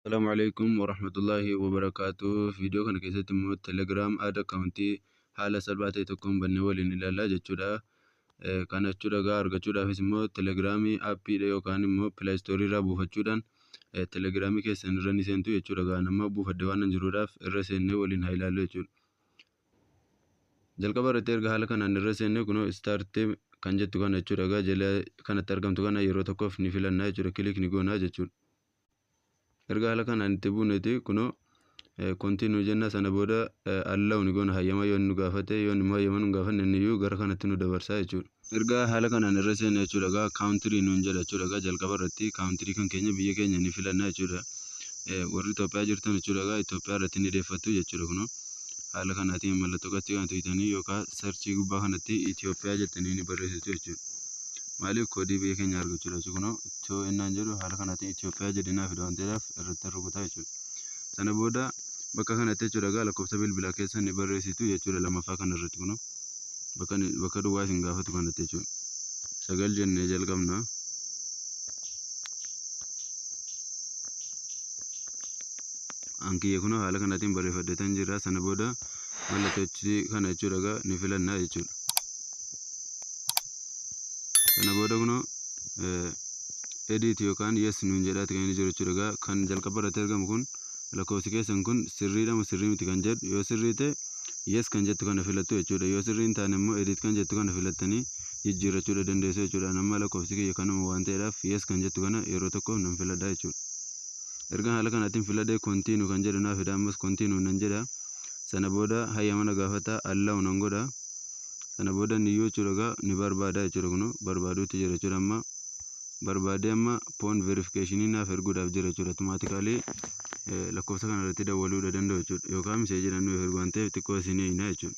Assalamu alaikum warahmatullahi wabarakatuh. Viidiyoo kana keessatti immoo Telegram ad account haala salphaa ta'e tokkoon bannee waliin ilaalla jechuudha. Eh, Kana jechuudha egaa argachuudhaafis immoo Telegram appiidha yookaan immoo Play Store irraa buufachuudhaan eh, Telegram keessan irra ni seentu jechuudha. Egaa nama buufadhe waan hin jiruudhaaf irra seennee waliin haa ilaallu jechuudha. Jalqaba irratti erga haala kanaan irra seennee kunoo start kan jettu kana jechuudha. Egaa jala kanatti argamtu kana yeroo tokkoof ni filanna jechuudha. Kilik ni goona jechuudha. erga haala kanaan itti buuneeti kunoo continue jenna sana booda allow ni goona hayyama yoo nu gaafate yoo immoo hayyama nu gaafanne inni iyyuu gara kanatti nu dabarsaa jechuudha. Erga haala kanaan irra seena jechuudha egaa country nuun jedha jechuudha egaa jalqaba irratti country kan keenya biyya keenya ni filanna jechuudha. Warri Itoophiyaa jirtan jechuudha egaa Itoophiyaa irratti ni deeffattu jechuudha kunoo haala kanaatiin mallattoo qachii kana tuqxanii yookaan sarchii gubbaa kanatti Itoophiyaa jettanii ni barreessitu jechuudha. Maaliif koodii biyya keenya argachuudha jechuudha kunoo to ennaan jedhu haala kanaatiin Itoophiyaa jedhee naa fida waan ta'eedhaaf irrattan rukutaa jechuudha. Sana booda bakka kanatti jechuudha egaa lakkoofsa bilbilaa keessan ni barreessitu jechuudha lamaffaa kana irratti kunoo bakka bakka duwwaa isin gaafatu kanatti jechuudha. Sagal jennee jalqabna. Ankiyya kunoo haala kanaatiin barreeffadheetan jira sana booda mallattoo kana jechuudha egaa ni filanna jechuudha. Kana booda kunoo edit yookaan yes nuun jedhaati kan inni jiru jechuudha. Egaa kan jalqaba irratti argamu kun lakkoofsi keessan kun sirriidha moo sirrii miti kan jedhu yoo sirrii ta'e yes kan jettu kana filattu jechuudha. Yoo sirrii hin taane immoo edit kan jettu kana filattanii jijjiirrachuudha dandeessu jechuudha. Ani amma lakkoofsi kiyya kanuma waan ta'eedhaaf yes kan jettu kana yeroo tokkoof nan filadha jechuudha. Erga haala kanaatiin filadhee continue kan jedhu naa fida ammas continue nan jedha. Sana booda hayyama na gaafata allow nan godha. kana booda inni iyyuu jechuudha egaa ni barbaada jechuudha kunoo barbaaduutti jira jechuudha amma barbaadee amma poon verifikeeshinii naaf erguudhaaf jira jechuudha automaatikaalii lakkoofsa kana irratti dawwaluudha danda'u jechuudha yookaan miseejiidhaan nuuf ergu waan ta'eef xiqqoo isin eegnaa jechuudha.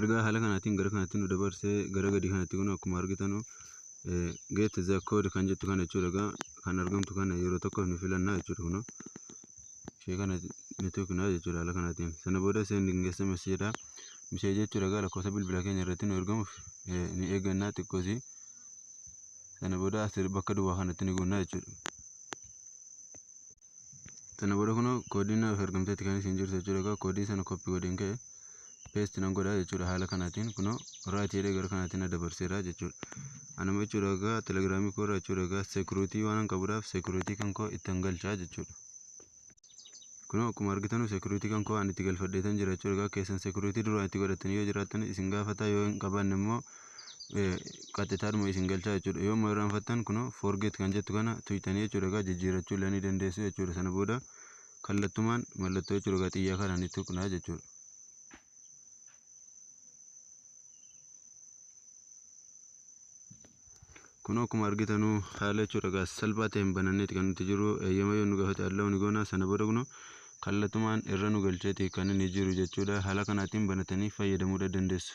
Ergaa haala kanaatiin gara kanatti nu dabarsee gara gadii kanatti kun akkuma argitanu get the code kan jettu kana jechuudha egaa kan argamtu kana yeroo tokkoof ni filannaa jechuudha kunoo ishee kana ni tuqnaa jechuudha haala kanaatiin sana booda sending sms jedha misee jechuudha egaa lakkoofsa bilbila keenya irratti nu ergamuuf ni eeggannaa xiqqoosii sana booda bakka duwwaa kanatti ni guunnaa jechuudha. Sana booda kunoo koodiin naaf ergamteetti kan isin jirtu jechuudha egaa koodii sana koppii godheen ka'e peesti nan godha jechuudha haala kanaatiin kunoo raayit jedhee gara kanaatiin na dabarseera jechuudha. Anuma jechuudha egaa telegiraamii koo irraa jechuudha egaa seekuriitii waan qabuudhaaf seekuriitii kan koo ittan galchaa jechuudha. Kunoo akkuma argitanu seekuriitii kan koo ani itti galfadheetan jira jechuudha egaa keessan seekuriitii duraan itti godhatanii yoo jiraattan isin gaafataa yoo hin qabaanne immoo qaxxitaadhuma isin galchaa jechuudha. Yoo immoo irraanfattan kunoo forget kan jettu kana tuqxanii jechuudha egaa jijjiirrachuu illee ni dandeessu jechuudha. Sana booda kallattumaan mallattoo jechuudha egaa xiyyaa kana ni tuqna jechuudha. Kunoo akkuma argitanu haala jechuudha egaa salphaa ta'een bananneeti kan nuti jiru eeyyama yoo nu gaafate allow ni goona sana booda kunoo kallatumaan irra nu galcheeti kan inni jiru jechuudha haala kanaatiin banatanii fayyadamuudha dandeessu.